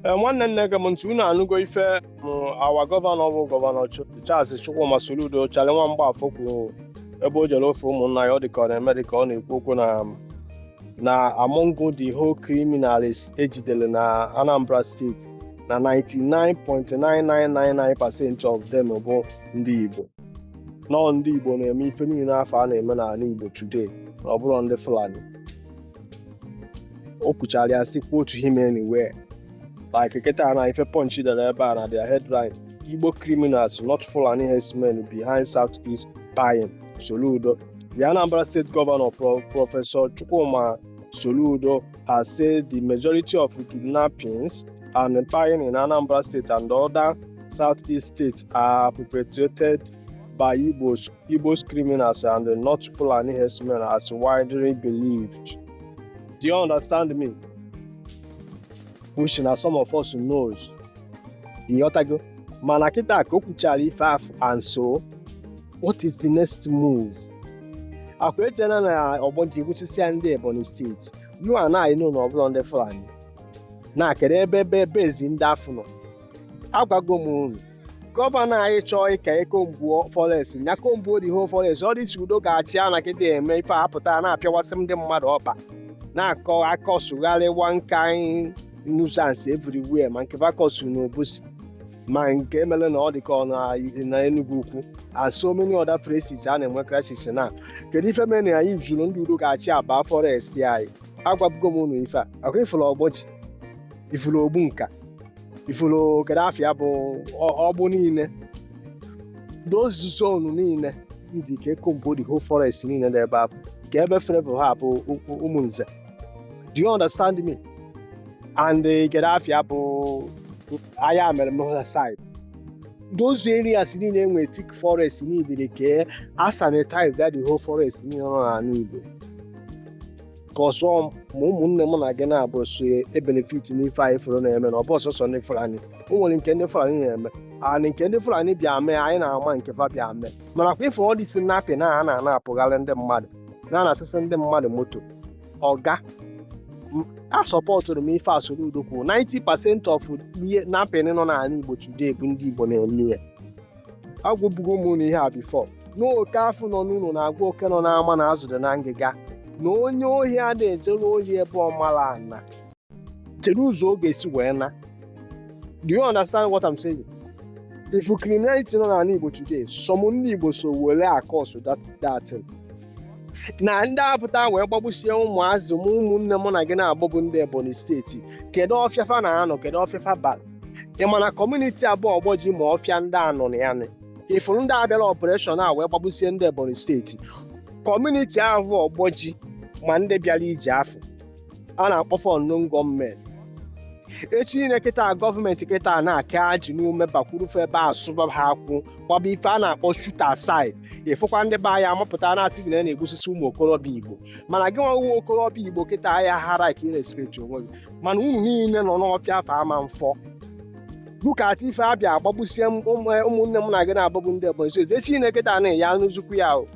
Ee, nwanne nne gee m ntị unu anụgo ife m our gọvanọ bụ gọvanọ Ch- Charles Chukwuma Soludo Charlie nwa mgbafọ kwuru ebe o jere ofe ụmụnna ya ọ dị ka ọ na-eme dị ka ọ na-ekwu okwu na na among the whole criminals ejidere na Anambra steeti na 99.9999% of them bụ ndị Igbo na ọ ndị Igbo na-eme ife niile afụ a na-eme n'ala Igbo today na ọ bụrọ ndị Fulani o kwuchara ya si kwuo otu him anywhere like kịta na ife punch dara ebe a na their headline igbo criminals not fulani herdsmen behind south east buying soludo the anambra state governor Pro professor chukwuma soludo has said the majority of kidnappings and buying in anambra state and other southeast states are perpetrated by igbos Igbo's criminals and not Fulani herdsmen as widely believed. Do you understand me? Which na some of us knows. Ịghọtago? Mana kịta ka o kwuchara ife afụ and so what is the next move? Akwa ejena na Ogboji gbuchisia ndị Ebonyi steeti. You and I know na ọ bụrọ ndị Fulani. Na kedu ebe ebe bezi ndị afụ nọ? Agwago m unu gọvanọ anyị chọọ ka e combuo forest ya combuo the whole forest all these Udo ga-achị a na kịta eme ife a pụta na-apịawasị ndị mmadụ ọkpa na-akọ akọsụgharị one kind nuisance everywhere ma nke va kọsụ na Obosi ma nke mere na ọ dị ka ọ na- na Enugu Ukwu and so many other places a na-enwe crisis na kedu ife mere na anyị ejirọ ndị Udo ga-achị aba forest anyị agwabugo m unu ife a akwa ị fụrụ Ogboji ị fụrụ Ogbunka ị fụrụ kedu afa ya bụ ọ- Ọgbụ niile those zone niile ndị ka e combuo the whole forest niile dị ebe afụ ka ebe Flavour ha bụ ụ- ụ- Ụmụnze do you understand me and eh, kedu afa ya bụ Ayamelum Ihiala side those areas niile enwe thick forest niile ka a sanitize ya the whole forest niile nọ n'ala Igbo cause some ụmụnne mụ na gị n'Igbo so ebenefit n'ife anyị fụrụ na-eme na ọ bụrọ sọsọ ndị Fulani o nwere nke ndị Fulani na-eme and nke ndị Fulani bịa mee anyị na-ama nke fa bịa mee mana kwa ife all these kidnapping a na-anapụgharị ndị mmadụ na-anasịsị ndị mmadụ moto ọga asọpọtụrụ m ife Soludo kwuru 90 pasent of kidnapping nọ n'ala Igbo today bụ ndị Igbo na-eme ya agwabugo m unu ihe a before na oke afụ nọ n'ụlọ na-agwa oke nọ n'ama na azụ dị na ngịga na onye ohi a na-ejere ohi ebe ọ mara ana kedu ụzọ ọ ga-esi wee naa do you understand what I'm saying? if criminality nọ n'ala Igbo today some ndị Igbo so were akọsụ that thing. na ndị a pụta wee gbagbusie ụmụazị m ụmụnne mụ na gị n'Igbo bụ ndị Ebonyi steeti kedu ọfịa fa na-anọ kedu ọfịa fa bara ị ma na kọmuniti a bụ ogboji ma ọfịa ndị a nọ na ya ị fụrụ ndị a bịara opereshọn a wee gbagbusie ndị ebonyi steeti kọmuniti ahụ ogboji ma ndị bịara ije afụ a na-akpọ fa unknown gunmen echi niile kịta gọọmenti kịta na-aka ajị n'ume bakwuru fa ebe a sụba ha akwụ gbaba ife a na-akpọ shoot at sight ị fụkwa ndị be anyị amapụta na-asị gị na a na-egbusisi ụmụ okorobịa igbo mana gị nwa nwa okorobịa igbo kịta ahịa hara ka ị respect onwe gị mana unu niile nọ n'ọfịa afụ ama mfọ bukata ife abịa agbagbusie m- ụmụ- eh, ụmụnne m na gị na-agbagbu ndị ebonyi steeti echi niile kịta anị ya n'uzukwu ya o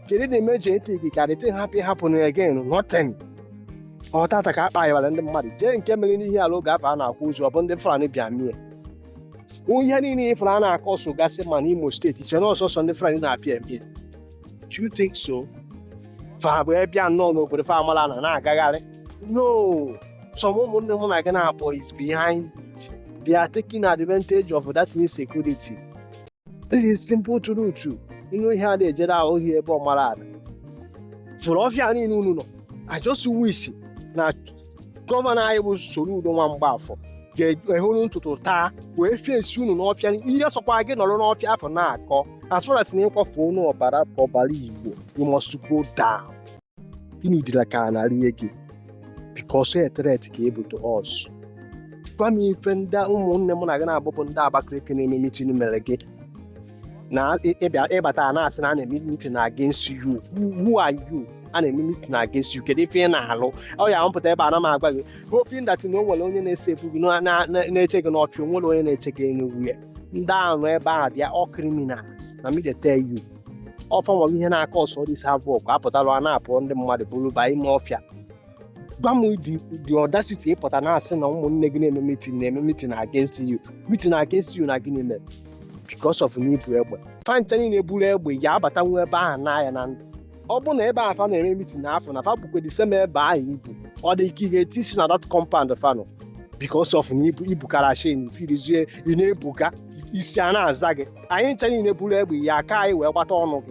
kedu na ime ji ntị gị karị tin hapụ ịhapụ na-egain nothing ọ taata ka akpa yawara ndị mmadụ jee nke mere n'ihiala oge afụ a na-akwụ ụzọ ọ bụ ndị fulani bịa mee ihe niile ị fụrụ a na-akọsụgasị ma n'imo steeti chere ọ sọsọ ndị fulani na-abịa eme Do you think so? Fa bụ ọbịa nọ n'obodo fa amarọ ana na-agagharị. No! Some ụmụnne m na gị na-abụ is behind it. They are taking advantage of that insecurity. This is simple truth. Ị nụ ihe a na-ejere ahụ ohi ebe ọ mara ala. Bụrụ ọfịa niile unu nọ. I just wish na gọvanọ anyị bụ Soludo nwa Mgbafọ ga-ehuru ntụtụ taa wee fesie unu n'ọfịa ihe sọkwa gị nọrọ n'ọfịa afụ na-akọ as far as na ị kwafu unu ọbara Igbo you must go down ị needịrọ ka a na-arịọ gị because a threat ka ị bụ to us gwa m ife ndị ụmụnne m na gị na-abụbụ ndị Abakaliki na-eme meeting mere gị na ị bata na-asị na a na-eme meeting against you who are you a na-eme meeting against you kedu ife ị na-alụ ọ ya mpụta ebe a na m agwa gị hoping that na o nwere onye na-ese ebu gị na- na- na- na-eche gị n'ọfịa o nwere onye na-eche gị enugwu ya ndị ahụ nọ ebe ahụ bụ all criminals na me dey tell you ọ fa nwere ihe na-akọsụ this havoc apụtala a na-apụ ndị mmadụ buru ba ime ọfịa gwa m the the audacity ị pụta na-asị na ụmụnne gị na-eme meeting na-eme meeting against you meeting against you na gịnị mere because of na ị bu egbe fa ncha niile buru egbe ị ya-abatanwu ebe ahụ naa na ndụ ọ bụ na ebe ahụ fa na-eme meeting afụ na fa bụkwa the same ebe ahụ ibu ọ dị ka ị ga-eti isi na that compound fanụ because of na ị bu ị bu karashin firizie ị na-ebuga isi a na-aza gị anyị ncha niile buru egbe ya aka anyị wee gbata ọnụ gị